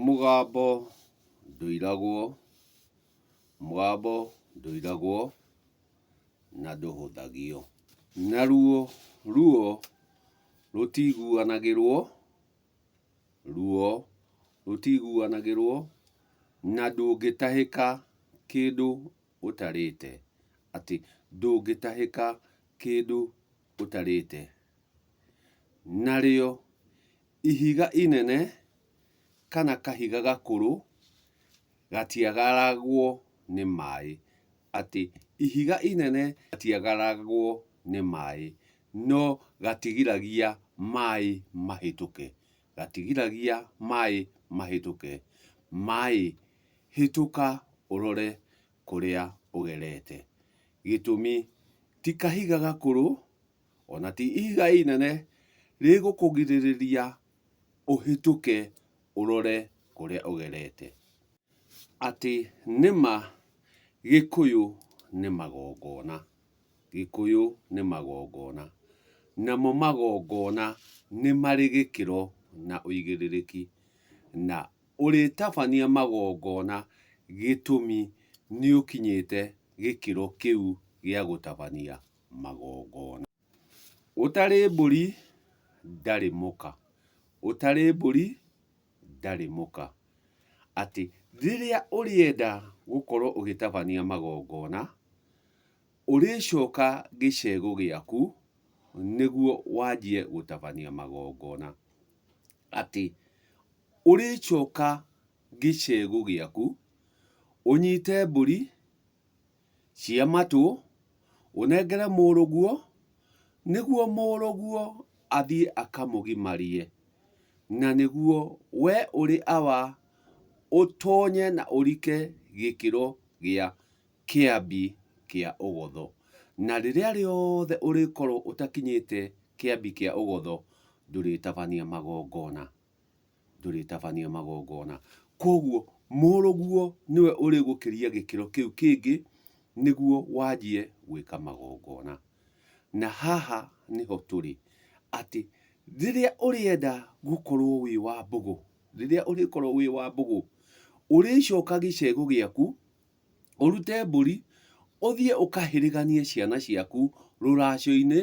Mũgambo ndũiragwo, mũgambo ndũiragwo na ndũhũthagio. Naruo ruo rũtiguanagĩrwo, ruo rũtiguanagĩrwo na ndũngĩtahĩka kĩndũ ũtarĩte, atĩ ndũngĩtahĩka kĩndũ ũtarĩte. Narĩo. Ihiga inene kana kahiga gakũrũ gatiagaragwo nĩ maĩ. Atĩ ihiga inene gatiagaragwo nĩ maĩ, no gatigiragia maĩ mahĩtũke. Gatigiragia maĩ mahĩtũke. Maĩ, hĩtũka ũrore kũrĩa ũgerete. Gĩtũmi, ti kahiga gakũrũ o na ti ihiga inene rĩgũkũgirĩrĩria ũhĩtũke ũrore kũrĩa ũgerete. Atĩ nĩ ma Gĩkũyũ nĩ magongona. Gĩkũyũ nĩ magongona. Namo magongona nĩ marĩ gĩkĩro na ũigĩrĩrĩki. Na ũrĩtabania magongona gĩtũmi nĩ ũkinyĩte gĩkĩro kĩu gĩa gũtabania. magongona. Ũtarĩ mbũri ndarĩ mũka, ũtarĩ mbũri ndarĩ mũka. Atĩ rĩrĩa ũrĩenda gũkorwo ũgĩtabania magongona, ũrĩcoka gĩcegũ gĩaku nĩguo wanjie gũtabania magongona. Atĩ ũrĩcoka gĩcegũ gĩaku ũnyite mbũri. cia matũ, ũnengere mũrũguo, nĩguo mũrũguo athiĩ akamũgimarie, na nĩguo wee ũrĩ awa ũtonye na ũrike gĩkĩro gĩa Kĩambi kĩa Ũgotho. Na rĩrĩa rĩothe ũrĩkorwo ũtakinyĩte Kĩambi kĩa Ũgotho, ndũrĩtabania magongona. ndũrĩtabania magongona. Kwoguo mũrũguo nĩwe ũrĩgũkĩria gĩkĩro kĩu kĩngĩ nĩguo wanjie gwĩka magongona. Na haha nĩho tũrĩ, atĩ rĩrĩa ũrĩenda gũkorwo wĩ wa mbũgũ, rĩrĩa ũrĩkorwo wĩ wa mbũgũ, ũrĩcoka gĩcegũ gĩaku, ũrute mbũri, ũthiĩ ũkahĩrĩganie ciana ciaku rũracio-inĩ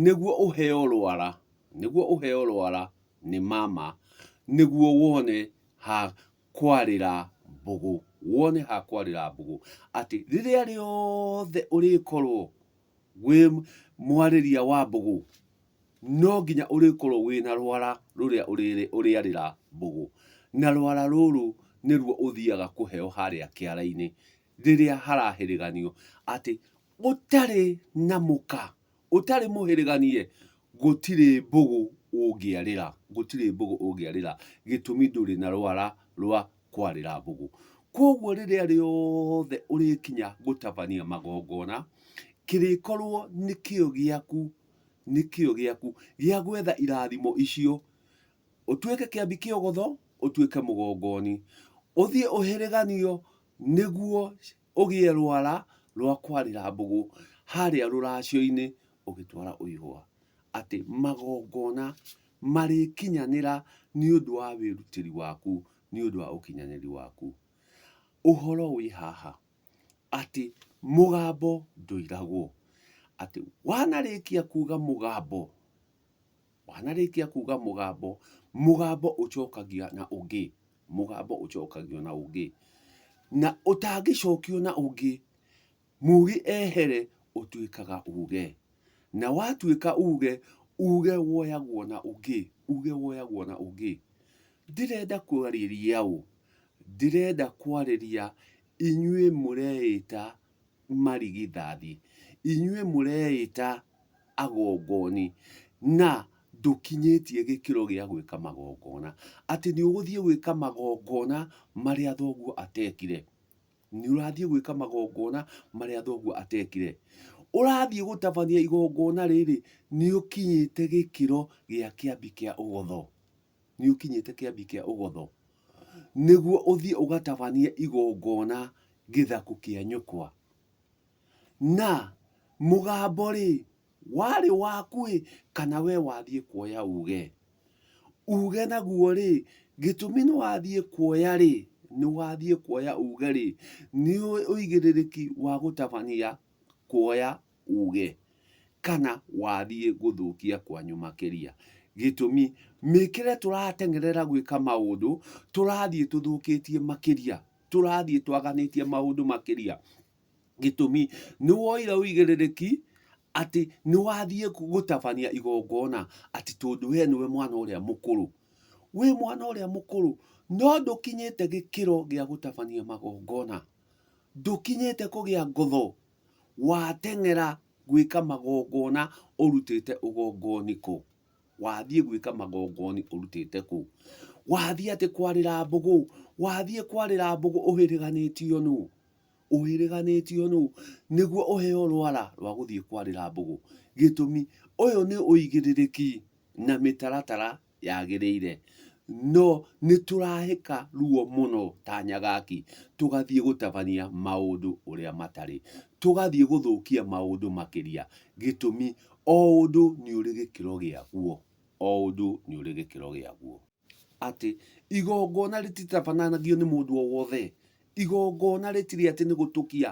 nĩguo ũheo rwara, nĩguo ũheo rwara nĩ mama, nĩguo wone ha kwarĩra mbũgũ, wone ha kwarĩra mbũgũ. Atĩ rĩrĩa rĩothe ũrĩkorwo Wĩ mwarĩria wa mbũgũ, no nginya ũrĩkorwo wĩna rwara rũrĩa ũrĩarĩra mbũgũ. Na rwara rũrũ nĩruo ũthiaga kũheo harĩa kĩara-inĩ rĩrĩa harahĩrĩganio atĩ gũtarĩ na mũka, ũtarĩ mũhĩrĩganie gũtirĩ mbũgũ ũngĩarĩra, gũtirĩ mbũgũ ũngĩarĩra gĩtũmi ndũrĩ na rwara rwa kwarĩra mbũgũ. Kwoguo rĩrĩa rĩothe ũrĩkinya gũtabania magongona, kĩrĩkorwo nĩ kĩo gĩaku, nĩ kĩo gĩaku gĩa gwetha irathimo icio, ũtuĩke kĩambi kĩa ũgotho, ũtuĩke mũgongoni, ũthiĩ ũhĩrĩganio nĩguo... Ũgĩe rwara rwa kwarĩra mbũgũ harĩa rũracio-inĩ ũgĩtwara ũihũa, atĩ magongona marĩkinyanĩra nĩ ũndũ wa wĩrutĩri waku, nĩ ũndũ wa ũkinyanĩri waku. Ũhoro wĩ haha, atĩ mũgambo ndũiragwo, atĩ wanarĩkia kuuga mũgambo, Wanarĩkia kuga mũgambo, mũgambo ũcokagia na ũngĩ, mũgambo ũcokagio na ũngĩ. Na ũtangĩcokio na ũngĩ, mugi ehere ũtuĩkaga uge. Na watuĩka uge, uge woyagwo na ũngĩ, uge woyagwo na ũngĩ. Ndirenda kwarĩria ũ, ndirenda kwarĩria inyuĩ mũreĩta marigithathi, inyuĩ mũreĩta agongoni, na ndũkinyĩtie gĩkĩro gĩa gwĩka magongona, atĩ nĩũgũthiĩ gwĩka magongona marĩa thoguo atekire, nĩũrathiĩ gwĩka magongona marĩa thoguo atekire, ũrathiĩ gũtabania igongona rĩrĩ, nĩũkinyĩte gĩkĩro gĩa kĩambi kĩa ũgotho. nĩ ũkinyĩte kĩambi kĩa ũgotho, nĩguo ũthiĩ ũgatabanie igongona gĩthaku kĩa nyũkwa. Na mũgambo-rĩ, warĩ waku-ĩ, kana we wathiĩ kuoya uge? Uge naguo-rĩ, gĩtũmi nĩ wathiĩ kuoya-rĩ, nĩ wathiĩ kuoya uge-rĩ, nĩ ũwĩ ũigĩrĩrĩki wa gũtabania kuoya? uuge kana wathiĩ gũthũkia kwanyu makĩria. Gĩtũmi, mĩkĩre tũrateng'erera gwĩka maũndũ, tũrathiĩ tũthũkĩtie makĩria, tũrathiĩ twaganĩtie maũndũ makĩria. Gĩtũmi, nĩ woire ũigĩrĩrĩki atĩ nĩ wathiĩ gũtabania igongona atĩ tondũ we nĩwe mwana ũrĩa mũkũrũ. Wĩ mwana ũrĩa mũkũrũ, no ndũkinyĩte gĩkĩro gĩa gũtabania magongona. Ndũkinyĩte kũgĩa ngotho Wateng'era gwĩka magongona ũrutĩte ũgongoni kũ? Wathiĩ gwĩka magongoni ũrutĩte kũ? Wathiĩ atĩ kwarĩra mbũgũ, wathiĩ kwarĩra mbũgũ ũhĩrĩganĩtio nũ? Ũhĩrĩganĩtio nũ? Nĩguo ũheo rwara rwa gũthiĩ kwarĩra mbũgũ. Gĩtũmi, ũyũ nĩ ũigĩrĩrĩki na mĩtaratara yagĩrĩire, no nĩ tũrahĩka ruo mũno ta nyagaki, tũgathiĩ gũtabania maũndũ ũrĩa matarĩ, tũgathiĩ gũthũkia maũndũ makĩria, gĩtũmi o ũndũ nĩ ũrĩ gĩkĩro gĩaguo, o ũndũ nĩ ũrĩ gĩkĩro gĩaguo. Atĩ igongona rĩtitabanagio nĩ mũndũ o wothe, Igongona rĩtirĩ atĩ nĩ gũtũkia,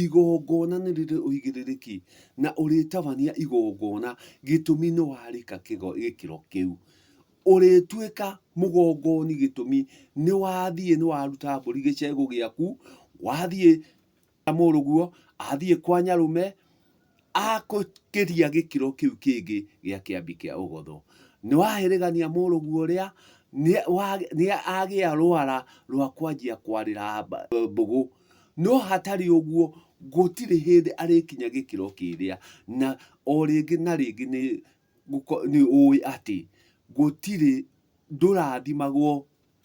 igongona nĩ rĩrĩ ũigĩrĩrĩki, na ũrĩtabania igongona gĩtũmi nĩ warĩka gĩkĩro kĩu. Ũrĩtuĩka mũgongoni gĩtũmi nĩ wathiĩ nĩ waruta mbũri gĩcegũ gĩaku, wathiĩ mũrũguo, athiĩ kwa nyarũme, Akũkĩria gĩkĩro kĩu kĩngĩ gĩa kĩambi kĩa ũgotho. Nĩ waherĩgania mũrũguo ũrĩa nĩ agĩa rwara rwa kwanjia kwarĩra mbũgũ. No hatarĩ ũguo gũtirĩ hĩndĩ arĩkinya gĩkĩro kĩrĩa. Na o rĩngĩ na rĩngĩ nĩ ũĩ atĩ gũtirĩ ndũrathimagwo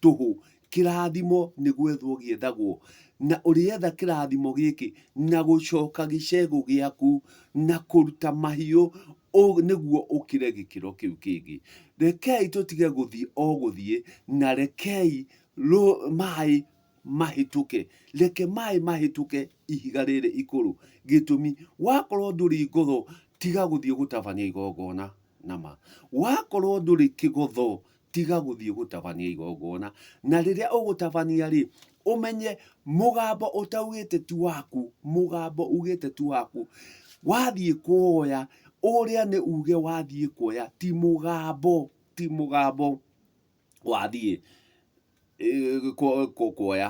tũhũ. Kĩrathimo nĩ gwethwo gĩethagwo, na ũrĩetha kĩrathimo gĩkĩ na gũcoka gĩcegũ gĩaku na kũruta mahiũ nĩguo ũkĩre gĩkĩro kĩu kĩngĩ. Rekei tũtige gũthiĩ o gũthiĩ na rekei maĩ mahĩtũke. Reke maĩ mahĩtũke ihiga rĩrĩ ikũrũ. Gĩtũmi, wakorwo ndũrĩ ngotho tiga gũthiĩ gũtabania igongona na ma. Wakorwo ndũrĩ kĩgotho tiga gũthiĩ gũtabania igongona na rĩrĩa ũgũtabania rĩ ũmenye mũgambo ũtaugĩte ti waku mũgambo ugĩte ti waku wathiĩ kuoya ũrĩa nĩ uge wathiĩ kuoya ti mũgambo ti mũgambo wathiĩ kuoya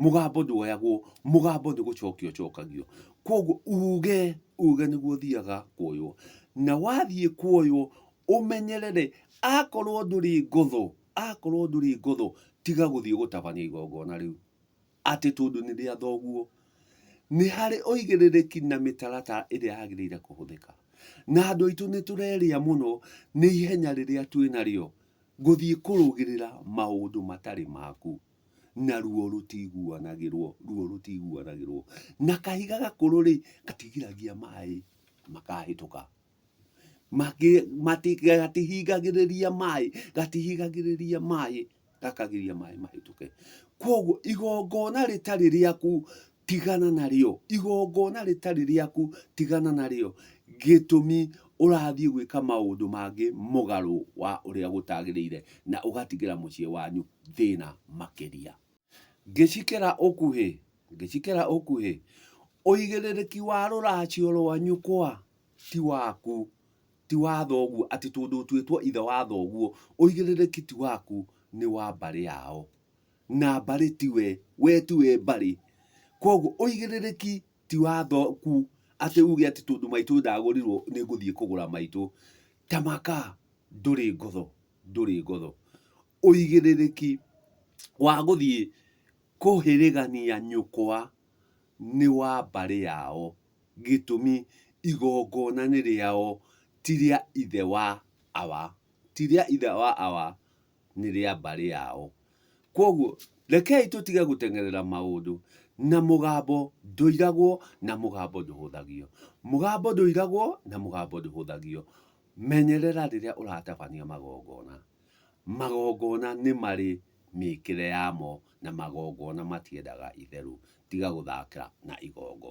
mũgambo ndwoyagwo mũgambo nĩ gũcokio ũcokagio kwoguo uge uge nĩguo ũthiaga kuoywo na wathiĩ kuoywo ũmenyerere akorwo ndũrĩ ngũthũ akorwo ndũrĩ ngũthũ tiga gũthiĩ gũtabania igongona rĩu. atĩ tondũ nĩ rĩa thoguo, nĩ harĩ ũigĩrĩrĩki na mĩtaratara ĩrĩa yagĩrĩire kũhũthĩka. Na andũ aitũ nĩ tũrerĩa mũno nĩ ihenya rĩrĩa twĩ narĩo gũthiĩ kũrũgĩrĩra maũndũ matarĩ maku. Na ruo rũtiguanagĩrwo, ruo rũtiguanagĩrwo. Na kahiga gakũrũ rĩ, gatigiragia maĩ makahĩtũka. matigagĩrĩria maĩ gatihigagĩrĩria maĩ gakagiria maĩ mahĩtũke kwoguo igongona rĩtarĩ rĩaku tigana narĩo igongona rĩtarĩ rĩaku tigana narĩo gĩtũmi ũrathiĩ gwĩka maũndũ mangĩ mũgarũ wa ũrĩa gũtagĩrĩire na ũgatigĩra mũciĩ wanyu thĩna makĩria. Ngĩcikera ũkuhĩ, ngĩcikera ũkuhĩ, ũigĩrĩrĩki wa rũracio rwa nyũkwa ti waku, ti wa thoguo, atĩ tondũ ũtuĩtwo ithe wa thoguo, ũigĩrĩrĩki ti waku, nĩ wa mbarĩ yao. Na mbarĩ ti we, we ti we mbarĩ. Koguo ũigĩrĩrĩki ti wa thoku, atĩ uge atĩ tondũ maitũ ndagũrirwo nĩ ngũthiĩ kũgũra maitũ. Tamaka ndũrĩ ngotho, ndũrĩ ngotho. ũigĩrĩrĩki wa gũthiĩ kũhĩrĩgania nyũkwa nĩ wa mbarĩ yao gĩtũmi igongona nĩ rĩao ti rĩa ithe wa awa, ti rĩa ithe wa awa nĩ rĩa mbarĩ yao. Kwoguo rekei tũtige gũteng'erera maũndũ na mũgambo ndũiragwo na mũgambo ndũhũthagio. Mũgambo ndũiragwo na mũgambo ndũhũthagio. Menyerera rĩrĩa ũratabania magongona. Magongona nĩ marĩ mĩĩkĩre yamo na magongona matiendaga itherũ tiga gũthakĩra na igongona.